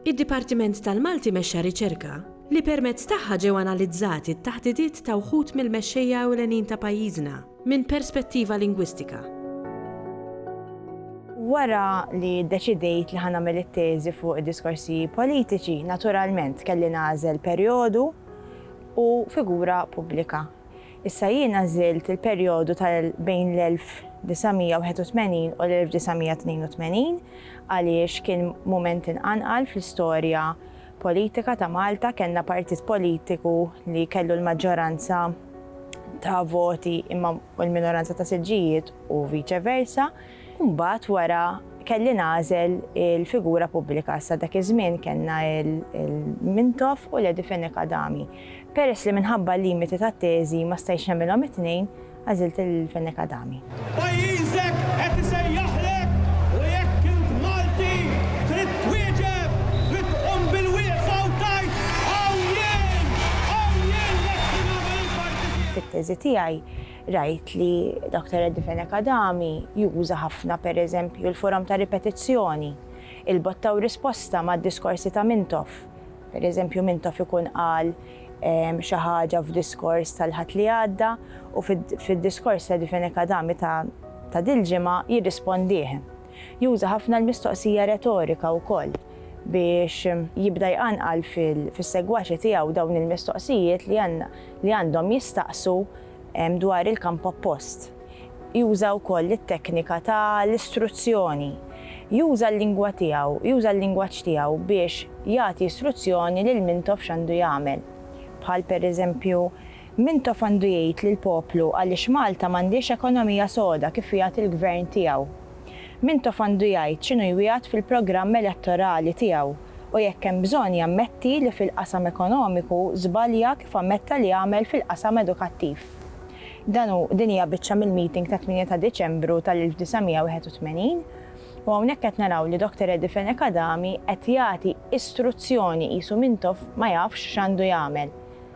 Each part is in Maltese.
Id-Dipartiment tal-Malti mexxa riċerka li permezz tagħha ġew analizzati t-taħdidiet ta' wħud mill-mexxejja ewlenin ta' pajjiżna minn perspettiva lingwistika. Wara li ddeċidejt li ħa nagħmel it-teżi fuq id-diskorsi politiċi, naturalment kelli nagħżel perjodu u figura pubblika. Issa jien għażilt il-perjodu ta' bejn l-1981 u l-1982 għaliex kien mument inqanqal fl-istorja politika ta' Malta, kellna partit politiku li kellu l-maġġoranza ta' voti imma l-minoranza ta' siġġijiet u viċe versa. U mbagħad wara kelli nagħżel il-figura pubblika. Sa dak iż-żmien kellna l-Mintoff u Lady Fenech Adami. Peress li minħabba l-limiti tat-teżi ma stajtx nagħmilhom it-tnejn, għażilt il-Fenech Adami. Pajjiżek qed isejjaħlek u jekk int Malti trid twieġeb trid tqum bil-wieqfa u tgħid, Hawn jien! Hawn jien lesti nagħmel il-parti tiegħi. Fit-teżi tiegħi Rajt li Doctor Eddie Fenech Adami juża ħafna, per eżempju, l-forom ta' ripetizzjoni, il-botta u risposta mad-diskorsi ta' Mintoff. Per eżempju, Mintoff ikun qal xi ħaġa f'diskors tal-Ħadd li għadda u fid-diskors ta' Eddie Fenech Adami ta' dil-ġimgħa jirrispondih. Juża ħafna l-mistoqsija retorika wkoll biex jibda jqanqal fis-segwaċi tiegħu dawn il-mistoqsijiet li għandhom jistaqsu dwar il-kamp oppost. Juża wkoll it-teknika ta' l-istruzzjoni. Juża l-lingwa tiegħu, juża l-lingwaġġ tiegħu biex jagħti struzzjoni lil mintoff x'għandu jagħmel. Bħal pereżempju, Mintoff għandu jgħid lill-poplu għaliex Malta m'għandhiex ekonomija soda kif wiegħed il-Gvern tiegħu. Mintoff għandu jgħid x'inhu jwiegħed fil-programm elettorali tiegħu u jekk hemm bżonn jammetti li fil-qasam ekonomiku żbalja kif ammetta li għamel fil-qasam edukattiv. Dan hu, din hija biċċa mill-meeting tat-tmienja ta' Diċembru tal-1981 u hawnhekk qed naraw li Doctor Eddie Fenech Adami qed jagħti istruzzjoni qisu Mintoff ma jafx x'għandu jagħmel.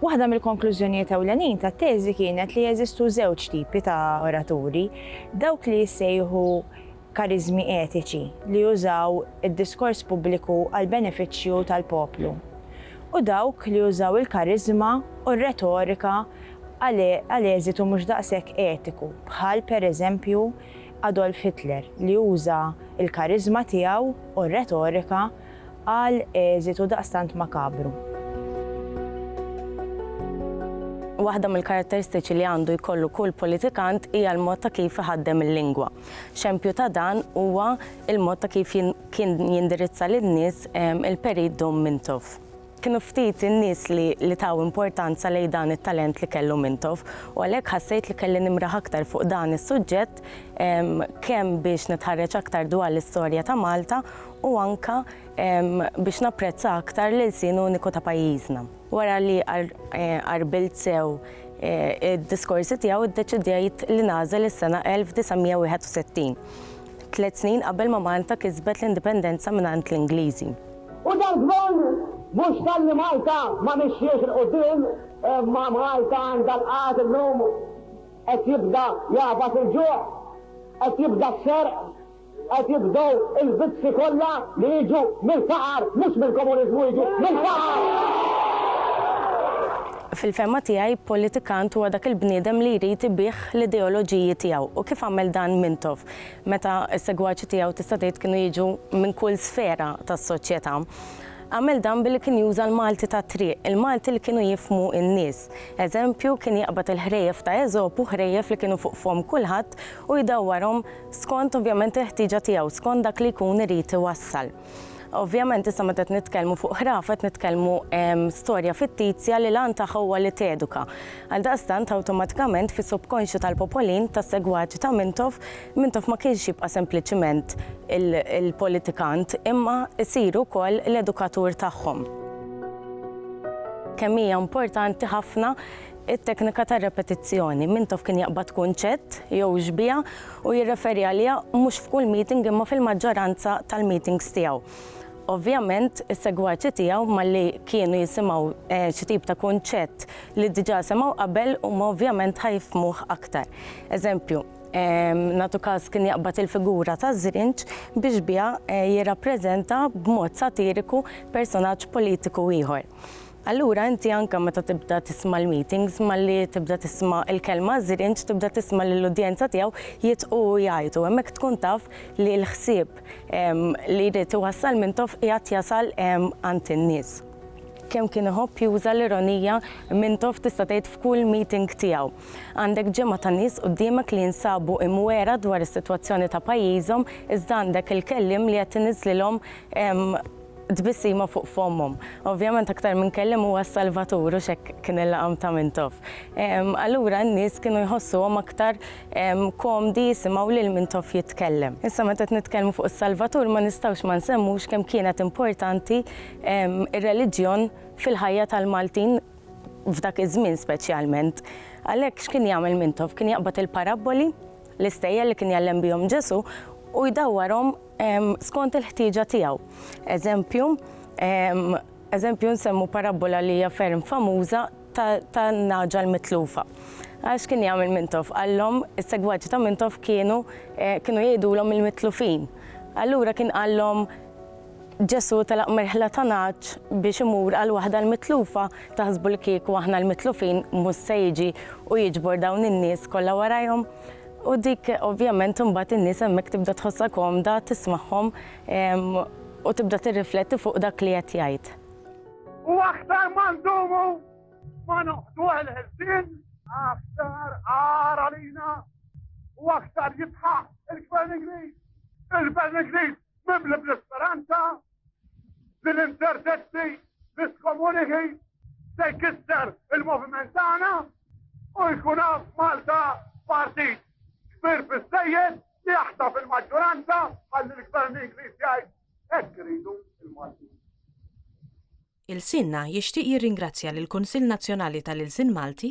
Waħda mill-konklużjonijiet ewlenin tat-teżi kienet li jeżistu żewġ tipi ta' oraturi, dawk li jissejħu kariżmi etiċi li jużaw id-diskors pubbliku għall-benefiċċju tal-poplu u dawk li jużaw il-kariżma u r-retorika għal eżitu mhux daqshekk etiku, bħal, pereżempju, Adolf Hitler li uża l-kariżma tiegħu u r-retorika għal eżitu daqstant makabru. Waħda mill-karatteristiċi li għandu jkollu kull politikant hija l-mod ta' kif iħaddem il-lingwa. Xempju ta' dan huwa l-mod ta' kif kien jindirizza lin-nies il-Perit Dom Mintoff. Kienu ftit in-nies li li taw importanza lejn dan it-talent li kellu Mintoff u għalhekk ħassejt li kelli nimraħ aktar fuq dan is-suġġett kemm biex nitħarreġ aktar dwar l-istorja ta' Malta u anke biex napprezza aktar l-ilsien uniku ta' pajjiżna. Wara li qarbilt sew id-diskorsi tiegħu ddeċidejt li nagħżel is-sena 1961, tliet snin qabel ma Malta kisbet l-Indipendenza mingħand l-Ingliżi. U dan gvern mhux talli Malta ma mixjiex 'il quddiem imma Malta għandha l-qgħad illum. Qed jibda jagħfas il-ġuħ, qed jibda s-serq, qed jibdew il-vizzi kollha li jiġu mill-faqar mhux mill-komuniżmu jiġu mill-faqar! Fil-fehma tiegħi politikant huwa dak il-bniedem li jrid ibigħ l-ideoloġiji tiegħu u kif għamel dan Mintoff. meta s-segwaċi tiegħu tista' tgħid kienu jiġu minn kull sfera tas-soċjetà, għamel dan billi kien juża l-Malti tat-triq, il-Malti li kienu jifhmu n-nies. Eżempju, kien jaqbad il-ħrejjef ta' Eżopu, ħrejjef li kienu fuq fomm kulħadd, u jdawwarhom skont ovvjament il-ħtieġa tiegħu, skont dak li jkun irid iwassal. Ovvjament issa meta qed nitkellmu fuq ħrafa qed nitkellmu storja fittizja li l-għan tagħha huwa li teduka. Għaldaqstant awtomatikament fis-subkonxju tal-popolin tas-segwaċi ta' Mintoff, Mintoff ma kienx jibqa' sempliċiment il-politikant imma jsir ukoll l-edukatur tagħhom. Kemm hija importanti ħafna It-teknika tar-repetizzjoni, Mintoff kien jaqbad kunċett jew xbieha u jirreferi għaliha mhux f'kull meeting imma fil-maġġoranza tal-meetings tiegħu. Ovvjament, is-segwaċi tiegħu malli kienu jisimgħu xi tip ta' kunċett li diġà semgħu qabel huma ovvjament ħa jifhmuh aktar. Eżempju, nagħtu każ kien jaqbad il-figura ta' Żrinġ bi xbieha jirrappreżenta b'mod satiriku personaġġ politiku ieħor. Allura inti anke meta tibda tisma' l-meetings malli tibda tisma' l-kelma żrinġ tibda tisma' lill-udjenza tiegħu jidħqu u jgħajtu. Hemmhekk tkun taf li l-ħsieb li jrid iwassal Mintoff qiegħed jasal għand in-nies. Kemm kien iħobb juża l-ironija Mintoff tista' tgħid f'kull meeting tiegħu. Għandek ġemgħa ta' nies quddiemek li jinsabu imwiegħra dwar is-sitwazzjoni ta' pajjiżhom iżda għandek il-kelliem li qed iniżżlilhom tbissima fuq fommhom. Ovvjament aktar minn kelliem huwa s-Salvatur u x'hekk kien il-laqam ta' Mintoff. Allura n-nies kienu jħossuhom aktar komdi jisimgħu lil Mintoff jitkellem. Issa meta qed nitkellmu fuq is-Salvatur ma nistgħux ma nsemmux kemm kienet importanti r-reliġjon fil-ħajja tal-Maltin f'dak iż-żmien speċjalment. Għalhekk x'kien jagħmel Mintoff? Kien jaqbad il-parabboli, l-istejjer li kien jgħallem bihom Ġesù u jdawwarhom skont il-ħtieġa tiegħu. Eżempju, eżempju nsemmu parabbola li hija ferm famuża tan-nagħġa l-mitlufa. Għax kien jagħmel Mintoff qallhom, is-segwaċi ta' Mintoff kienu kienu jgħidulhom il-mitlufin. Allura kien qallhom Ġesù telaq merħla ta' nagħaġ biex imur għal waħda l-mitlufa, taħsbu li kieku aħna l-mitlufin mhux se jiġi u jiġbor dawn in-nies kollha warajhom? U dik ovvjament imbagħad in-nies hemmhekk tibda tħossha komda, tismagħhom u tibda tirrifletti fuq dak li qed jgħid. U aktar ma ndumu ma noqdu l-ħelsien, aktar għar għalina u aktar jitħaq il-Gvern Ingliż. Il-Gvern Ingliż mimli bl-isperanza Din inċertezzi li skomuniki se jkisser il-moviment tagħna u jkun għaf Malta partit kbir biżejjed li jaħta fil-maġġoranza għal l-gvern Ingliż jgħid hekk iridu il-Malti. Il-Sinna jixtieq jirringrazzja lill-Kunsill Nazzjonali tal-Ilsien Malti